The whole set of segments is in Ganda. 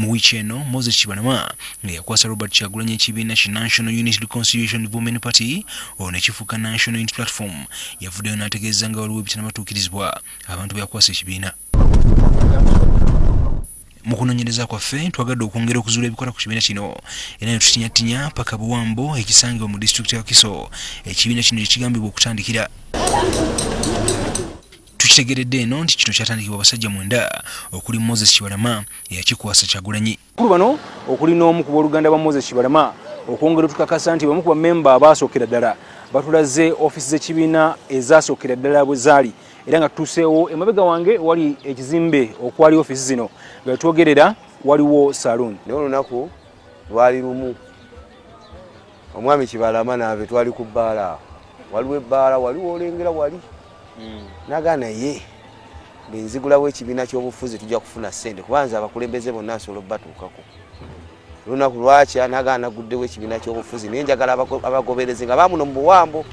mu wiiki eno moses kibalama nga yakwasa robert kyagulanyi ekibiina ki national unit reconciliation women party olwo nekifuuka national unit platform yavuddeyo n'ategeeza nga waliwo ebitanabatuukirizibwa abantu beyakwasa ekibiina mu kunoonyereza kwaffe twagadde okwongera okuzuula ebikola ku kibiina kino era netutinyatinnya paka buwambo ekisangibwa mu disitulikiti ya kiso ekibiina kino kyekigambibwa okutandikira Tukitegeredde eno nti kino kyatandikibwa abasajja mwenda okuli Moses Kibalama eyakikwasa Kyagulanyi. Kulu bano okuli n'omu ku booluganda lwa Moses Kibalama okwongera otukakasa nti bamu ku bamemba abaasookera ddala batulaze ofiisi z'ekibiina ezaasookera ddala bwe zaali era nga tutuuseewo emabega wange wali ekizimbe okwali ofiisi zino nga twogerera waliwo saloon naye olunaku lwali lumu omwami kibalama nave twali ku bbaala waliwo ebbaala waliwo olengera wali mm. naga naye bwenzigulawo ekibiina kyobufuzi tujja kufuna sente kuba nze abakulembeze bonna nsobola obubatuukako lunaku lwaki anagaana guddewo ekibiina kyobufuzi naye njagala abagoberezi nga bamuno mu buwambo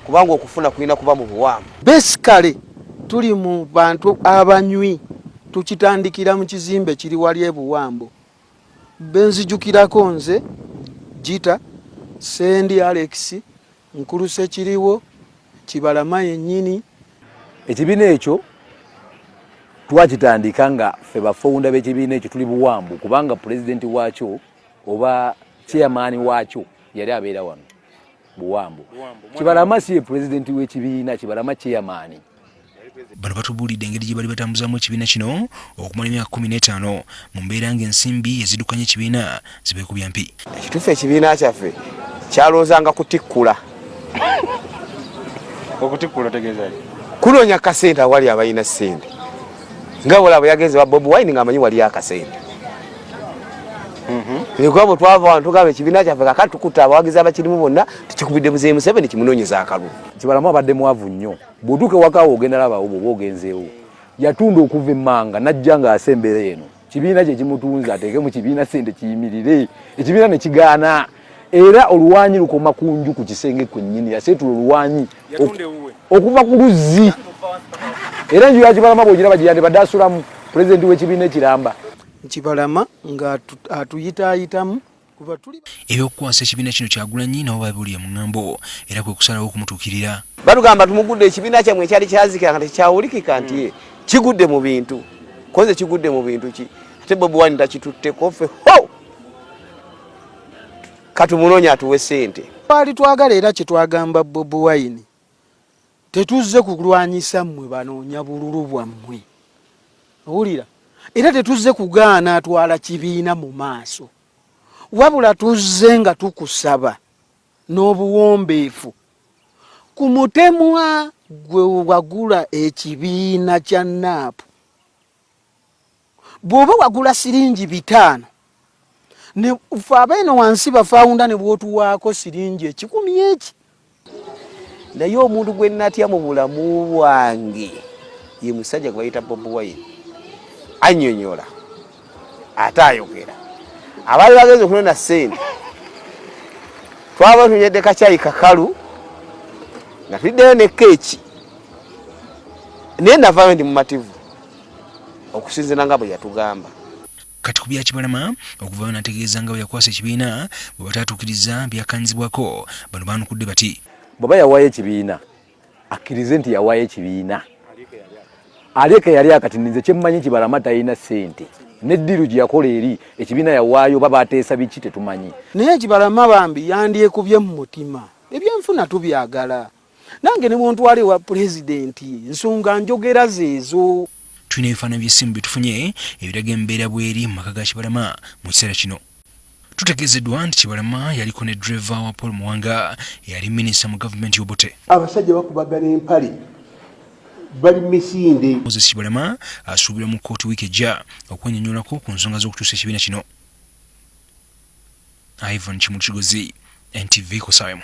kubanga okufuna kulina kuba mu buwambo besikale tuli mu bantu abanywi tukitandikira mu kizimbe kiri wali ebuwambo benzijukirako nze gita sendi alex Nkuluse kiriwo kibalama yennyini. Ekibiina ekyo twakitandika nga ffe bafowunda b'ekibiina ekyo tuli buwambu kubanga pulezidenti waakyo oba chairmaani waakyo yali abeera wano buwambu. Kibalama si ye pulezidenti w'ekibiina, Kibalama chairmaani. bano batubuulidde engeri gye bali batambuzamu ekibiina kino okumala emyaka kumi n'etaano mu mbeera ng'ensimbi ezidukanya ekibiina zibeekubya mpi ekituufu ekibiina kyaffe kyalowoozanga kutikkula okutikkula otegeeza kunoonya kasente awali abalina sente nga bwolaba yagenze wa bobi wine ngaamanyi waliyo akasente ekuba bwe twava wano tugamba ekibiina kyaffe kakati tukutte abawagizi abakirimu bonna tukikubidde muzeeyi museveni kimunoonyeza akalulu Kibalamu abadde mwavu nnyo. Bw'otuuka ewaka wo ogenda labawo bw'oba ogenzeewo. Yatunda okuva emmanga n'ajja ng'asa embeera eno. Kibiina kye kimutunze ateeke mu kibiina ssente kiyimirire. Ekibiina ne kigaana. Era oluwanyi lukoma ku nju ku kisenge kwennyini. Yaseetula oluwanyi okuva ku luzzi. Era enju ya Kibalama bw'ogiraba gye yandibadde asulamu pulezidenti w'ekibiina ekiramba. Kibalama ng'atuyitaayitamu. ebyokukwasa ekibiina kino kyagulanyi nabo babuli omuŋambo era kwe kusalawo okumutuukirira batugamba tumugudde ekibiina kyammwe ekyali kyazikira nga tekyawulikika nti hmm. kigudde mu bintu koze kigudde mu bintu ki ate bobi wani takitutteko ffe ho katumunoonya atuwe sente twali twagala era kyetwagamba bobi wine Tetuzze kukulwanyisa mmwe banoonya bululu bwammwe, owulira, era tetuzze kugaana atwala kibiina mu maaso, wabula tuzze nga tukusaba n'obuwombeefu ku mutemwa gwe wagula ekibiina kya naapu bwoba wagula siringi bitaano nefe abeeno wansi bafawunda nebwotuwaako siringi ekikumi eki naye omuntu gwe natya mu bulamu bwange ye musajja gwe bayita bobi wine anyonyola ate ayogera abaali bagenza okunona sente twaba tunyedde kakyayi kakalu nga tuddeyo ne keeki naye navaayo ndi mumativu okusinzira nga bwe yatugamba kati ku byakibalama okuvaayo nategeeza nga bwe yakwasa ekibiina bwe batatuukiriza byakanzibwako bano baanukudde bati bweba yawaayo ekibiina akkirize nti yawaayo ekibiina alieka yali akati ninze kyemmanyi kibalama talina ssente neddiru gye yakola eri ekibiina yawaayo oba bateesa biki tetumanyi naye kibalama bambi yandyekubye mu mutima ebyenfuna tubyagala nange ne bwontwala ewa pulezidenti nsonga njogera zeezo tulina ebifaananyi by'essimu byetufunye ebiraga embeera bweri mu maka ga kibalama mu kiseera kino tutegeezeddwa nti kibalama yaliko ne dreva wa paul muwanga eyali minisita mu gavumenti y'obote abasajja bakubagana empale bali misinde moses kibalama asuubirwa mu kkooti wiiki ejja okwenyonyolako ku nsonga z'okukyusa ekibiina kino ivan kimuli kigozi ntv kusaamu